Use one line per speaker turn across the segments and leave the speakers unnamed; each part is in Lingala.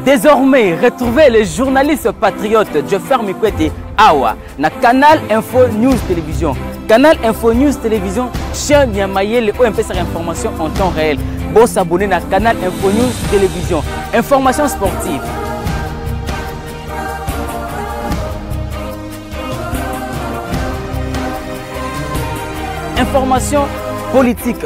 Désormais, retrouvez le journaliste patriote Jeffer Mikwete Awa na Canal Info News Télévision. Canal Info News Télévision, chaîne ya mayele oyo mpesaka information en temps réel. Bo s'abonner na Canal Info News Télévision. Information sportive, information politique,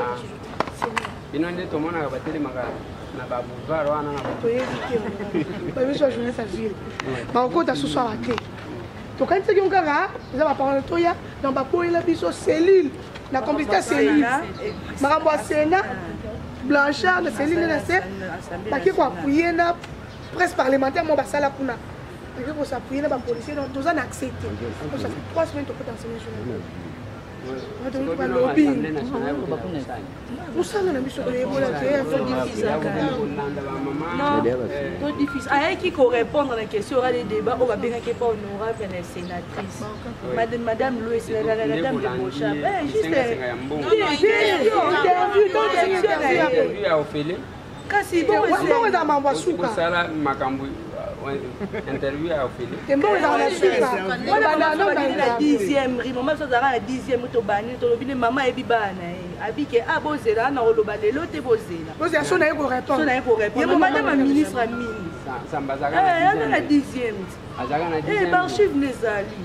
Ah. bino nde tomonaka batelemaka na baboulevard wana na toyebi te
babiso ya journée sa ville bakokota susu awa te tokanisaki yo kaka eza baparole toya na baboyela biso cellule na complicité ya cellule makambo ya sena blanchard na cellule na se baki koapuye na presse parlementaire mo basala kuna baki kosapuye na bapolicier toza na accès te trois semaine tokota nsene journée balobi mosala na biso
toyekola te ayaki korépondre na question orale débat oyo babengaki epa honorable na sénatrice madame louis la dame de bochab juste
interview kasi bongo
eza mambo asuka
kosala makambo euh,
interview ya ofele embongo
ezaka na
suka dixième ri mama biso azalaka na dixième tobani tolobi nde mama ayebi bana na ye abike a ah, bozela ana oloba lelo te bozela bozela so na ye korépondre
so na ye korépondre ye
madame ya ministre ya mini
azalaka na
dixième azalaka na dixième
eh, barchive n'ezali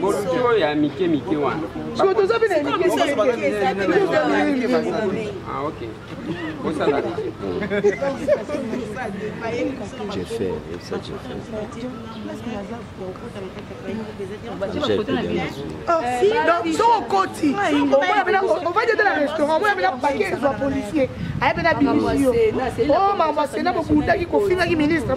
bordure ya mike mike
wana siko toza
mpe na
bosala
jeffer yebisa jeffer
soki okoti ovandi ata na restaurant omoya mpe na pake ezwa policier aye mpe na bimisio o mambo asena bobundaki kofingaki ministre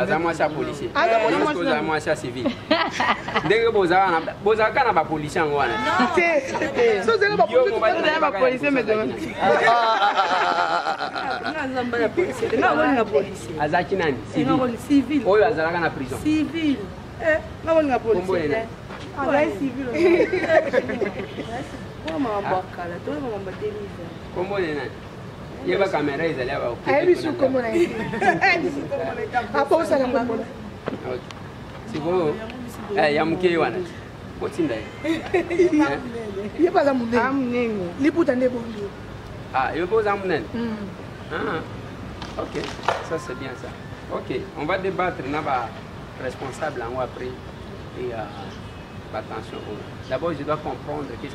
aza
mwasi ya policier kozala mwasi ya civil ndenge bozalaka na bapolicier yango wana
azalaki
nani oyo
azalaka na prison Kombo na nani?
Yeba kamera ezali awa. Ayebi su kombo na ye.
Abosana kombo na ye.
Sikoyo eh, ya moke ye wana otinda ye.
Ye baza monene. Ah, monene. Liputa nde bongi. Ah, yo mpe oza
monene. Hmm. Ah, ok, ça c'est bien ça. Ok, on va débattre na ba responsable yango après et euh, attention. D'abord, je dois comprendre qu'est-ce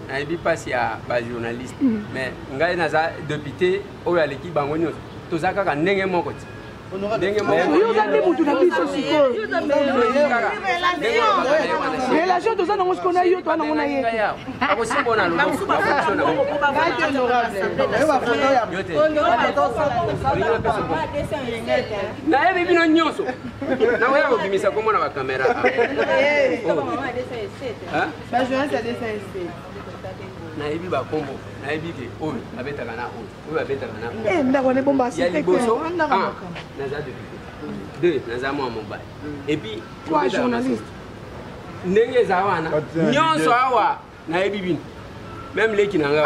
nayebi mpasi ya bajournaliste mm. mais ngai naza depute oyo aleki bango nyonso toza kaka ndenge moko ti ndenge mokoyoka nde motu na biso sikoyorelation
toza nango siko na yo toa nango na ye
nayebi bino nyonso nakoya kobimisa komona bakamera Ba journaliste ya 200 nayebi bakombo nayebi te oyo babetaka na oyo oyo babetaka na oyo eh, ndako wana ebomba ya liboso ah, naza depute deux naza mwa mobali epuis trois journaliste
ndenge
eza wana nyonso awa nayebi bino meme leki na ngai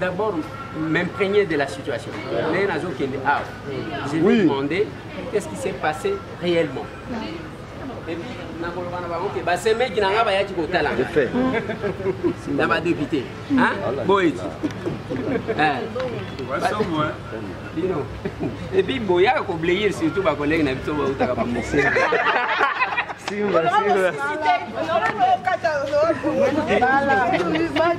D'abord, m'imprégner de la situation. Mais nazo kende ah, je vais oui. demander qu'est-ce qui s'est passé réellement. Et puis nakoloba na bango ke basemeki na ngai bayaki kotala ngai na badepute boye ti bino epuis boyaka koblayer surtout bakolege na biso bautaka bamosee Sim, vai, sim, vai.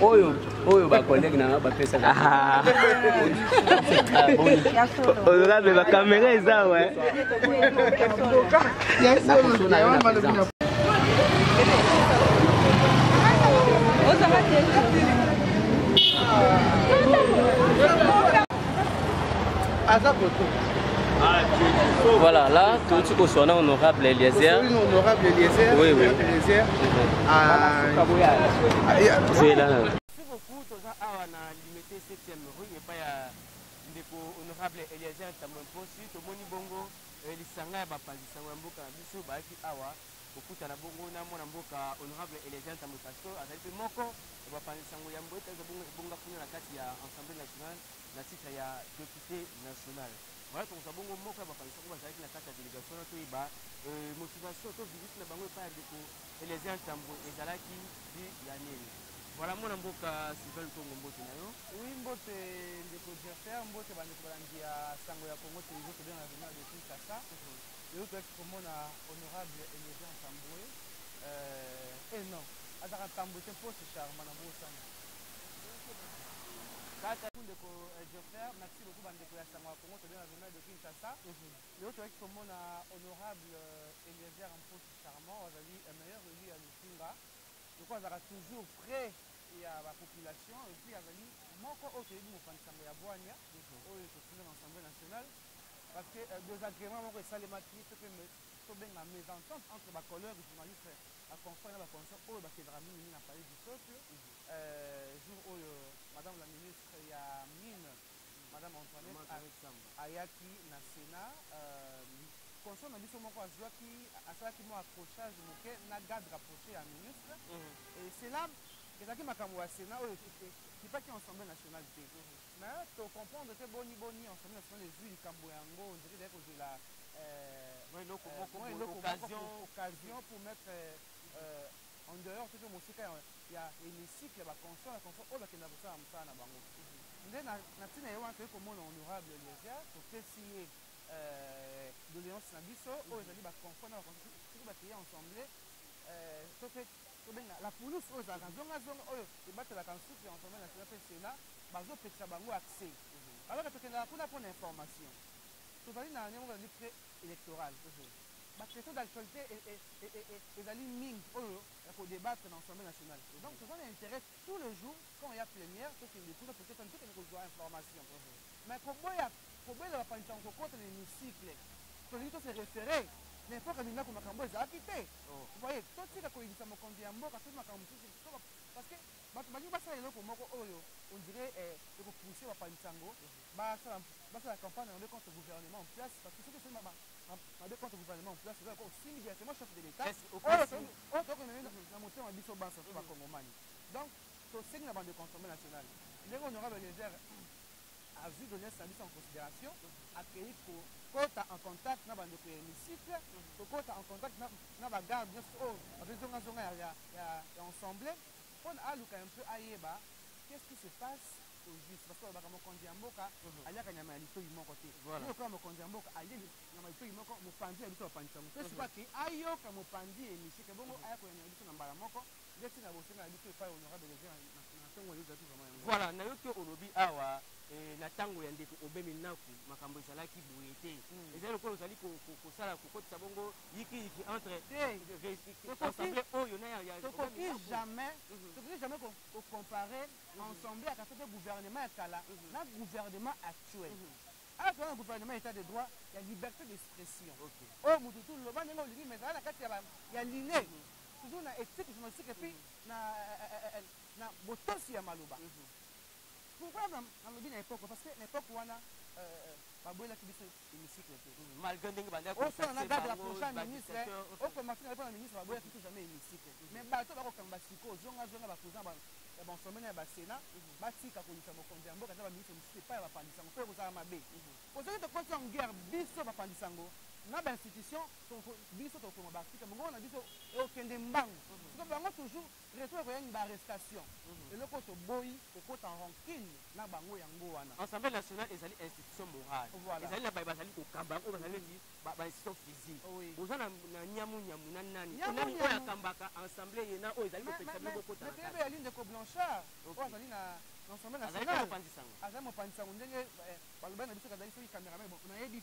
oyo oyo bacollègue na nga bapesaka
oza me bakamera eza we aza koto ah, Voilà, là, tout ce qu'on soit honorable Eliezer. Oui, honorable Eliezer.
Oui, oui. Eliezer. Mhm. Ah,
c'est là. Merci beaucoup, Toza
Awa, na limité 7e rue, et pas à Ndeko honorable Eliezer Tamon Possi, Tomoni Bongo, euh, Lisanga, Bapazisanga, Mboka, Biso, Baki Awa. Kokutana bongo na mwana mboka honorable Eliezer Ntambwe Pastor azali mpe moko ya bapanzi sango yambo ete azwa bongo ebonga kuna na kati ya Assemblee nationale na titre ya depute national. Voilà tokozwa bongo moko ya bapanzi sango bazalaki na kati ya delegation wana toyeba motivation to visite na bango epai ya ndeko Eliezer Ntambwe ezalaki du ya nini. Voilà mwana mboka Sylvain Lukongo mbote na yo. Oui mbote
ndeko Jeffer, mbote bandeko balandi ya sango ya Congo Television tobengaka journal de Kinshasa. Lelo toyaki komona honorable Eliezer Ntambwe euh, eh non azaka Ntambwe te mpo c'est Charma na bosani kaka ndeko eh, Geoffrey merci beaucoup bandeko ya sango ya Congo tobe na journal de Kinshasa mhm. lelo toyaki komona honorable euh, Eliezer Mposi Charmant azali euh, meilleur élu ya Lukunga loko azalaka toujours près ya ba population et puis azali moko oyo toyebi mopanzi sango ya bwania mhm. oyo tokunda na assemblée nationale parce que euh, désagrément moko esalemaki to mpe tobenga mésentente entre ba collègues journaliste ba confrère na ba consort oyo bakelaka mingi mingi na palais du peuple euh, jour oyo madame la ministre ya mine madame antoinette ayaki na sénat euh, consort na biso moko azwaki asalaki mwa accrochage moke na garde rapproché ya ministre mhm. et cela ezalaki makambo ya sénat oyo ekipaki ensemble nationale te mhm. Mais to comprendre te boni boni ensemble national ezui likambo yango ondire ezali kozela eh, mwa eloko moko boye occasion occasion pour mettre eh, en dehors to pe mosika ya, ya hémicycle ya ba conscients ya conscients oyo bakenda kosala mosala na bango nde na, na tina ye wana toyei komona honorable eliezer topesi ye eh, doléance na biso oyo ezali ba conscients na ba conscients soki bakeye ensemble eh, to pe tobenga la police oyo ezalaka zonga zonga oyo ebatelaka nsuki ya Assemblee nationale mpe Senat, bazopekisa bango accès. Alors que tokendaka kuna mpo na information. Tozali na ndenge moko ezali pre-electoral. Ba questions d'actualite ezali mingi oyo ya ko debattre na Assemblee nationale. Donc toza na interet tous les jours quand il ya plenière tokende kuna, tokende kozwa information. Mais koboya kobela ba panzi sango kokota na hemicycle tolingi to se referer na epoque ya minaku makambo oyo ezalaki te voyez totika koyinisa mokonzi ya mboka soki makambo mosusu parce que bato balingi basala eloko moko oyo on dirait eko pousser ba panzi sango basala basala campagne na mabe contre gouvernement en place parce que soki osali mabe contre gouvernement en place ozalaka osimbi directement chef de l'état oyo tokomeme na motema biso banso bakongomani donc tosengi na bande consommer nationale ndenge honorable eliezer azui doleance na biso en consideration akeyi kokota en contact na bandeko ya hémicycle kokota en contact na bagarde nyonso oyo bape zongazonga ya ensemble mpona aluka un peu ayeba qu'est-ce qui se passe au juste parce que balobaka mokonzi ya mboka mhm. aliaka nyama ya litoi moko te ye lokola mokonzi ya mboka alie nyama litoi moko mopanzi ya biso bapanzi yango mpe mhm. soki ake ayoka mopanzi ya hémicycle bongo mhm. aya koyanola biso na mbala moko ndeti na bosenga na biso epai honorable na ntongo oyo ezalaki vraimen yango voilà nayoki olobi
awa eh, na ntango ya ndeko obe minaku makambo ezalaki boye te hmm. ezali lokola ozali kosala kokotisa bongo yikiyiki entre ensemble oyo na tokoki jamais
mhm. tokoki jamais kocompare mhm. ensemble ya kasa te gouvernement ya kala mhm. na gouvernement actuel awa toza na gouvernement état de droit ya liberté d'expression oyo motu tu loba ndenge olingi mais ezala na kati ya line toujours na ethique journalistique et puis mm-hmm. na eh, eh, eh, na botosi ya maloba mm-hmm. pourquoi nalobi na époque parce que na époque wana euh, euh, babwelaki biso hémicycle te mm-hmm. malgré ndenge bandakosala
na garde la
prochaine ministre okoma fina mpona ministre babwelaki biso jamais hémicycle mais bato bakokanga basiko zongazonga bapresident ya bansomene ya basena batika kolisa mokonzi ya mboka ata baministre mosusu epai ya bapandisango mpo ekozala mabe ozoki tokoti yango guerre biso bapandisango na bainstitution biso tokoma baarticle mongongo na biso ekokende mbangu siko bango toujours retour ekoya nini baarrestation mhm. eloko oyo toboyi kokota rancune na bango yango wana assemblée nationale ezali
institution morale ezali na baye bazali kokamba yango bazali neti bainstitution physique oza na nyamu nyamu na nani nani oyo akambaka assemblée ye na oyo ezali kopekisa bino bokota na kati ezali ndeko blanchard
oyo azali na assemblée nationale azali mopanzi sango ndenge eh, balobani na biso kazali soki cameraman nayebi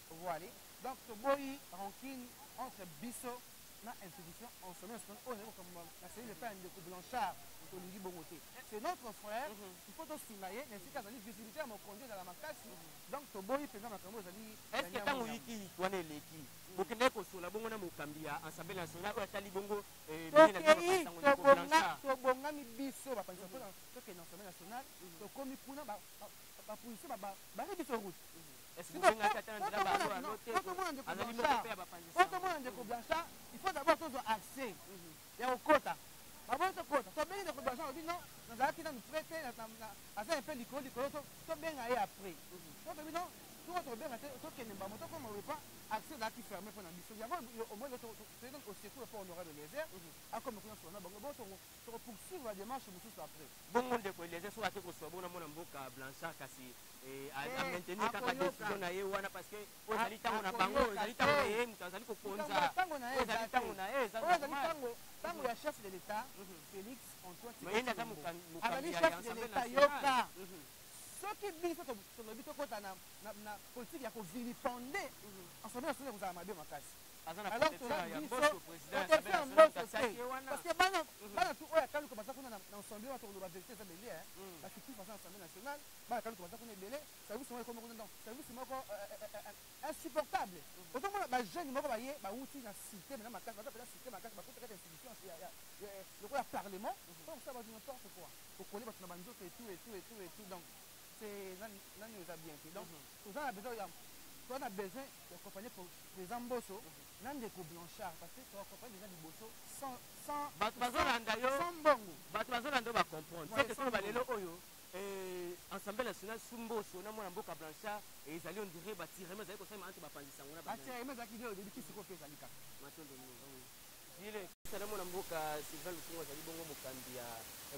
Voile. Donc toboyi rancune entre biso na institution en sommet national oyo ezali kokamama na cellule epai ya ndeko blanchard tolingi bongo te c'est notre frère mhm. il faut tosunga ye na esika azali visibilité ya mokonzi ezala makasi donc toboyi mpenza makambo ezali estce ntango yikiyiki
wana eleki bokende kosola bongo na mokambi ya ensemble national oyo atali bongo eh,
tobongami biso bapanisa tokende ensemble national mhm. tokomi kuna bapolisie barebi biso route otomona ndeko blanchard il faut d'abord tozwa accès mhm. ya kokota baboni tokota tobengi ndeko blanchard obi non nazalaki nanu près te aza mpe likolo likolo tobenga ye après mhm. totobi non toko tobenga te tokende mbamo tokoma wepa accès ezalaki ferme mpo na biso yango omoni osecour mpo honorable eliezer mhm. akoma kuna sona bango bosongo Toko poursuivre ba demarches mususu après. Bongo ndeko Eliezer
soki ake kosua bongo na mwana mboka Blanchard kasi eh, a, a maintenir kaka decision na ye wana parce que oyo ezali tango na bango, ezali tango na ye moto azali kokonza. Tango na ye ezali tango na ye, ezali tango tango ya
chef de l'État mhm. Félix Antoine Tshisekedi. Aza mokambi
azali chef de l'État yoka.
Mhm. Soki biso tolobi tokota na na politique ya ko vilipender, ensemble mhm. na solo kozala mabe makasi. alors toza biso protection ya mboso te parce que bana mhm. bana tu oyo akaluka baza kuna na ensemble wana tokoloba verité eza belie mhm. bafitis baza na assemblée nationale bana akaluka baza kuna ebele service moko ekomi kuna donc service moko euh, euh, euh, insupportable mhm. otomona bajeune moko baye bawuti na cité mena makasi baza peza cité makasi bakuta kaka institution lokola parlement mpo kosala bato n'importe quoi kokoli bato na banzoto etout etout etout etout donc nani oza bien te donc toza na besoin ya toza na besoin to accompagner président Mboso na ndeko Blanchard parce que to accompagner déjà liboso sans sans bato bazolanda yo sans mbongo bato bazolanda
yo ba comprendre c'est que solo balelo oyo eh, ensemble national su Mboso na mwana mboka Blanchard et ezali on dirait batirement ezali kosalema entre bapanzi sango na batirement ezalaki nde oyebi
kisiko mpe ezali kaka matondo
Sala mwana mboka Sylvain Lukunga azali bongo mokambi ya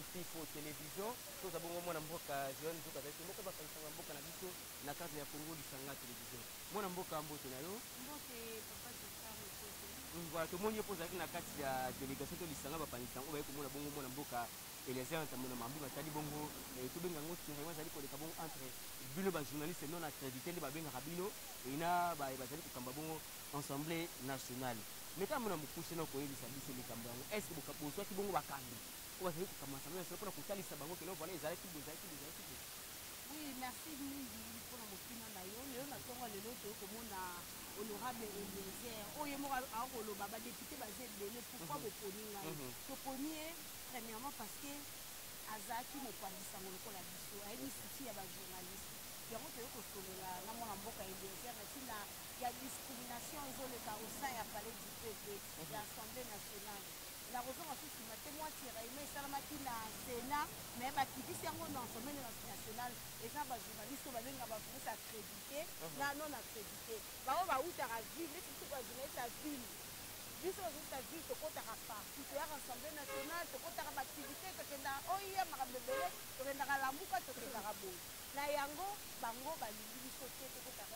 Mpifo Television. Toza bongo mwana mboka Joel Nzuka azali moko basangisanga mboka na biso na cadre ya Congo Lisanga Television. Mwana mboka mbote na yo. Mbote papa
Joseph Mbote.
Mm, voilà, tomoni yo mpo ozalaki na kati ya delegation to lisanga bapangisanga oyo bayaki komona bongo mwana mboka Eliezer Ntambo na mambi matali bongo eh, tobenga yango terrain azali koleka bongo entre bino bajournaliste non accrédité nde babengaka bino ena baye bazali kokamba bongo Assemblee nationale. Meka mwana mokuse na koyebisa biso likambo yango. Est-ce que bozwaki bongo bakambi oyo bazali kokamba Assemblee nationale mpo na kotalisa bango que non, voilà, ezalaki boye, ezalaki boye, ezalaki boye? Oui,
merci mingi mpo na motuna na yo. Lelo na ntongo ya lelo, toyei komona Honorable Eliezer, oyo ye moko akoki koloba ba deputes baza ebele, pourquoi boponi ngai? Toponi ye premièrement parce que azalaki mopanzi sango lokola biso, ayebi souci ya ba journalistes, yango toyei kosolola na mwana mboka Eliezer na ntina ya discrimination ezo leka au sein ya palais du peuple ya assemblee nationale nakozonga su sima te mwa tiraillement esalamaki na senat mais bakitisi yango na assemblee nationale eza ba journaliste oyo babenga ba journaliste accredite na non accredite baoyo bautaka ville neti biso ba journaliste ya ville biso ba journaliste ya ville tokotaka parti toyaka assemblee nationale tokotaka baaktivité tokendaka oia makambo ebele tokendaka lamuka tokendaka boye na yango bango balingi biso te tokotaka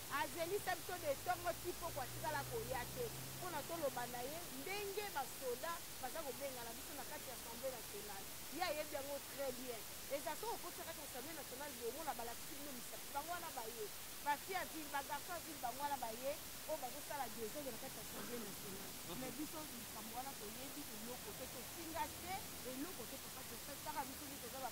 Azelisa biso de tongo ti poko atikala koya te pona toloba na ye ndenge ba soda baza kobengana biso na kati ya assemblee nationale. Ye ayebi yango tres bien. Ezala soki okoti na kati ya assemblee nationale boye omona balakisi bino misapi bango wana baye. Ba filles ya ville, ba garçons ya ville bango wana baye oyo bazosala desordre na kati ya assemblee nationale. Mais biso likambo wana toyebi eloko te, tofinga te, eloko te papa Joseph kaka biso nde toza ba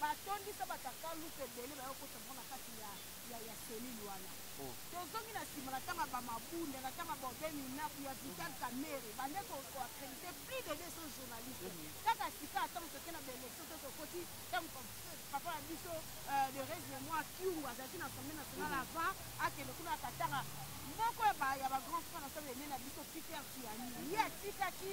batondisa batakaluka ebele baye kokota bango na kati ya, ya, ya selile wana oh. tozongi na nsima na ntango ya bamabunda na ntango ya baube minaku ya vital kamere bande koakredite plus de 200 journaliste mm-hmm. kaka sika ntango toke na baélection to tokoti ntango papa na biso euh, de rese moi kiungu azalaki na assemblée nationale mm-hmm. avant akende kuna akatanga moko ya bagrand frère na sala ene na biso peter tiani ye atikaki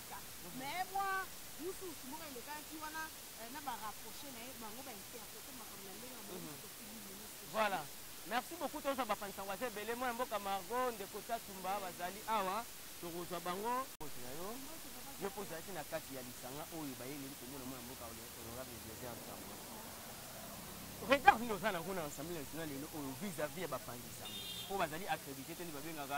Afrika mais mwa wusuwusu moko elekaki wana eh, na ba rapproche na ye bango ba interprete makambo na ndenge na bango mhm. tokili
ministre voilà merci beaucoup tozwa bapanisa waza ebele mwana mboka margo ndeko tatumba bazali awa tokozwa bango poso na yo yo mpo ozalaki na kati ya lisanga oyo bayeleli komona mwana mboka honorable eliezer nsango retard nini oza nango na ensemble national lelo oyo vis-à-vis ya bapanzi sango oyo bazali accrédité te nde babengaka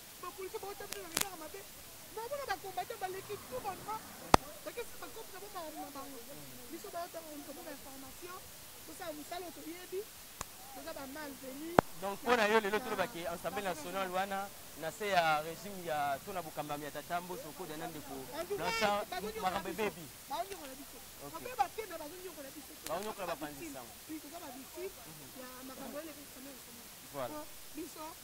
donc mpo na yo lelo tolobaki ensemble national wana na se ya régime ya to na bokambami ya tata mboso okoda na ndeko blanchard makambo ebebi baonyokola bapanzi sango voilà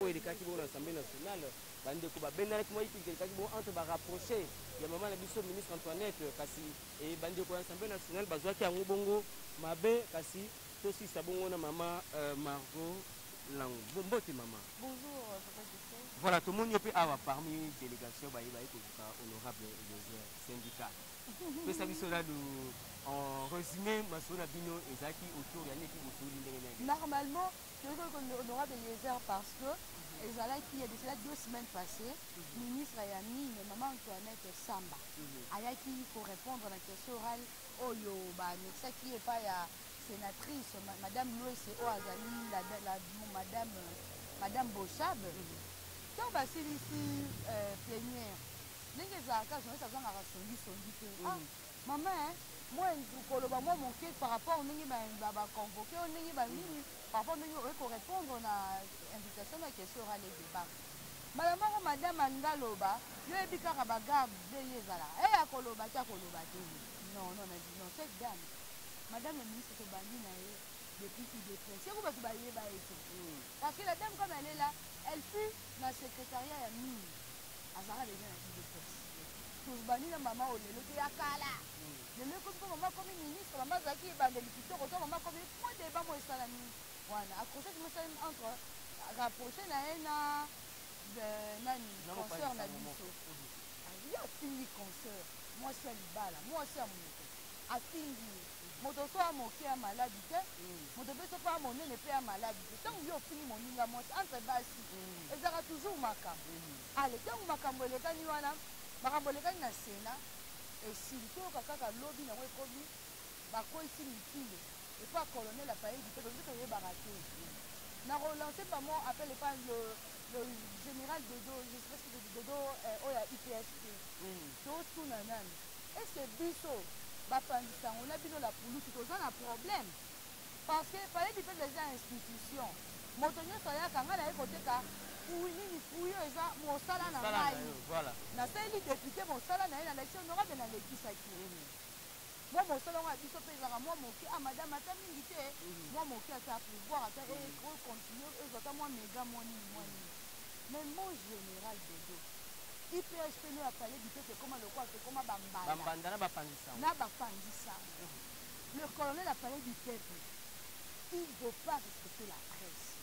oyo elekaki bongo na assemblée nationale bandeko babendanaki mwa ipilika elekaki bongo entre barapproche ya mama na biso ministre antoinette kasi e, bandeko ya assemblée nationale bazwaki yango bongo mabe kasi tosisa bongo na mama euh, margot langu mbote mama bonjour euh, papa
Justin. voilà tomoni yo mpe awa
parmi délégation baye baye kozuka honorable eliezer syndicat pesa biso nanu en résumé masolo na bino ezalaki autour ya neti bosoli ndenge nini normalement toyei
koyoka honorable eliezer parce que ezalaki ya cela deux semaines passé ministre ya mine mama antoinette samba ayaki korepondre na question orale oyo baanexaki ye epai ya sénatrice madame luese oyo azali madame madame bosabe ntango basilisi euh, plenière ndenge ezalaka journaliste azangaka songisongi te ah, Maman eh mwa nzou koloba mwa moke par rapport ndenge ba ba convoque yo ndenge ba nini par rapport ndenge oye ko repondre na invitation na question orale et debat mbala moko madame alingi aloba yo oyebi kaka ba garde ndenge ezalaka eh akoloba te akoloba te non non na non cette dame madame la ministre tobandi na ye depuis udps yango bato bayeba ye te parce que la dame comme elle est là elle fut na secrétariat ya mine azalaka deja na idee fixe tozbandi na mama oyo lelo te ya kala lelo ekomi mpo mama akomi ministre mama azalaki ebandeli kitoko to mama akomi mwa deba mo esalami wana accrochage mo esalami entre rapproche na ye na euh, nani concert na biso aye afingi concert mwasi ya libala mwasi ya moto afingi Moto soki a moke a malade te, moto pe soki a monene pe a malade te. Tango yo ofingi moninga mwasi entre basi ezalaka toujours makambo. Allez, tango makambo elekani wana, makambo elekani na Senat, esili. Toyoka kaka lobi nango ekomi ba kweyisi mitindo epa ya Colonel Apayedi Pedro, biso toyebaka te. Na ko lancer par mon appel epa le le General Dodo, je sais pas si Dodo oyo ya UPSP. Totuna nanu. est ce que biso bapanzi sango na bino la pulusu toza na problème parce que palais du peuple eza institution moto nyonso ayaka ngai naye koteka fruit nini fruit oyo eza mosala na ngai nasaleli depute mosala na ye nalakisi honorable nalekisaki mwa mosala yango ya biso mpe ezalaka mwa moke a ah, madame ata mingi te mhm. mwa moke ata pouvoir ata econtinue mhm. ezwa ata mwa mega mwa nini mwa nini Mais mon general dodo, IPH pe no ya fally bipepe ekoma lokola tokoma ba mbanda, ba mbanda na ba panzi sango, na ba panzi sango. Le colonel a fally bipepe il veut pas respecter la presse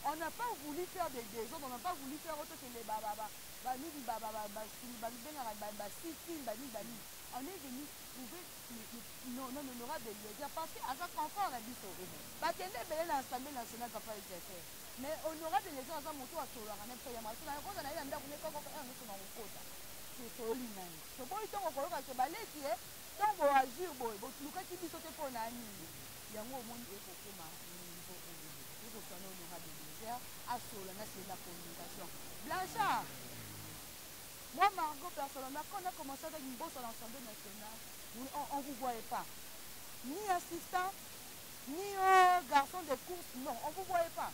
on a pas voulu faire des desordres on a pas voulu faire autre que les ba ba ba ba nini ba ba ba ba sulu ba bengaka ba ba sitin ba nini ba nini on est venu trouver non non honorable Eliezer parce que aza confort na biso bakende ebele na assemblée nationale papa Eliezer Mais honorable Eliezer aza moto asololaka na biso ya maso na kota na ye na ndako ne koko kaka miso na kokota tosoli na ye toboyi ntongo koyoka ke baleki ye ntongo boazur boye bolukaki biso te mpo na nini yango omoni ekokoma niveau oyo ekoswa na honorable Eliezer asolola na sele na communication Blanchard moi Margot personnellement quand on a commencé avec Mbosso à l'Assemblée nationale on, on vous voyait pas ni assistant ni oh garçon de course non on vous voyait pas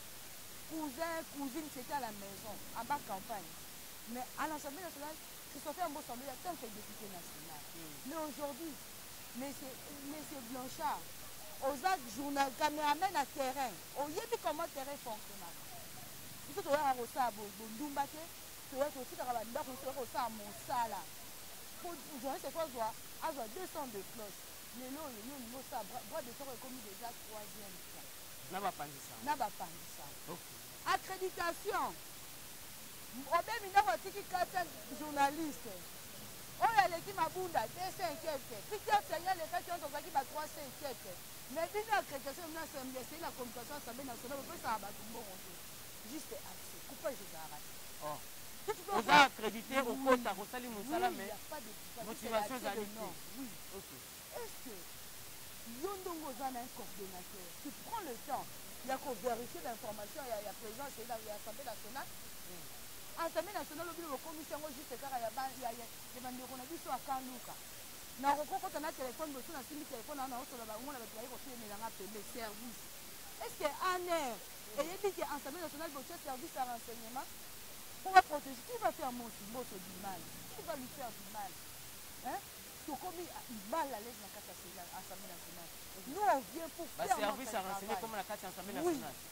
cousin cousine c'était à la maison en bas campagne mais à l'assemblée nationale christophe ambo semblait en tant que député national mais aujourd'hui monsieur monsieur blanchard oza journal cameraman na terrain oyebi comment terrain fonctionnaka biso toyaka kosala bondumba te toya totikaka bandako biso toya kosala mosala po journaliste fo azwa azwa 200 de cloche lelo oyo yo olingi osala bras de soko ekomi deja troisième fois na bapanzi sango na bapanzi sango okay. accréditation obemi ndako atiki kata journaliste oyo aleki mabunda 200 quelque peter senge alekaki wana tozalaki ba 300 quelque mais bino accréditation bino assemble esei na communication assemble nationale bopesaka bato mbongo te juste accès coupage ezalaka te oh. oza
accrédité okota kosali mosala mais motivation ezali te oui
okay. est ce que yo ndongo oza na un coordonnateur tu prends le temps ya kovérifier bainformation ya, ya présence ya assemblée nationale mm. assemblée nationale obino bokomisi yango juste kaka ya bandeko na biso akaluka nakokokota na telefone bosu nasimbi telefone wana naosola bango na bato baye kotelemela nga pembe service est ce que aner eyebi ke Assemblee nationale botie service ya renseignement po ba proteger qui va faire Mboso Mboso du mal qui va lui faire du mal hein tokomi mal à l'aise na kati ya Assemblee nationale nous on vient pour faire notre service ya renseignement comme na
kati ya Assemblee nationale oui.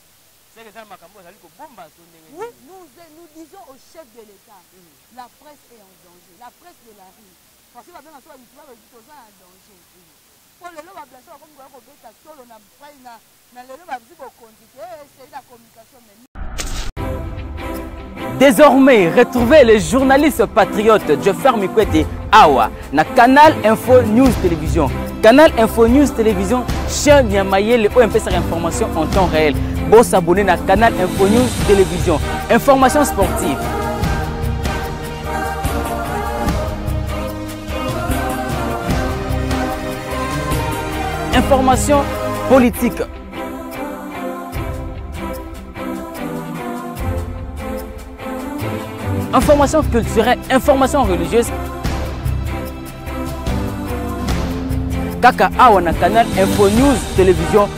seke eza makambo azali kobomba to ndenge oui
nous, nous disons au chef de l'état mm. la presse est en danger la presse de la rue parce que babenga so babitula babiti toza na danger mpo lelo bablase bakomi koya kobeta tolo na pai na Na lelo ba bzi bokonzi te, eh, c'est la communication mais
Désormais, retrouvez le journaliste patriote Joffer Mikwete Awa na Canal Info News Télévision. Canal Info News Télévision, chaîne ya mayele oyo mpesaka information en temps réel. Bo s'abonner na Canal Info News Télévision. Information sportive, Information politique. Information culturelle, information religieuse. Kaka Awana Canal Info News Télévision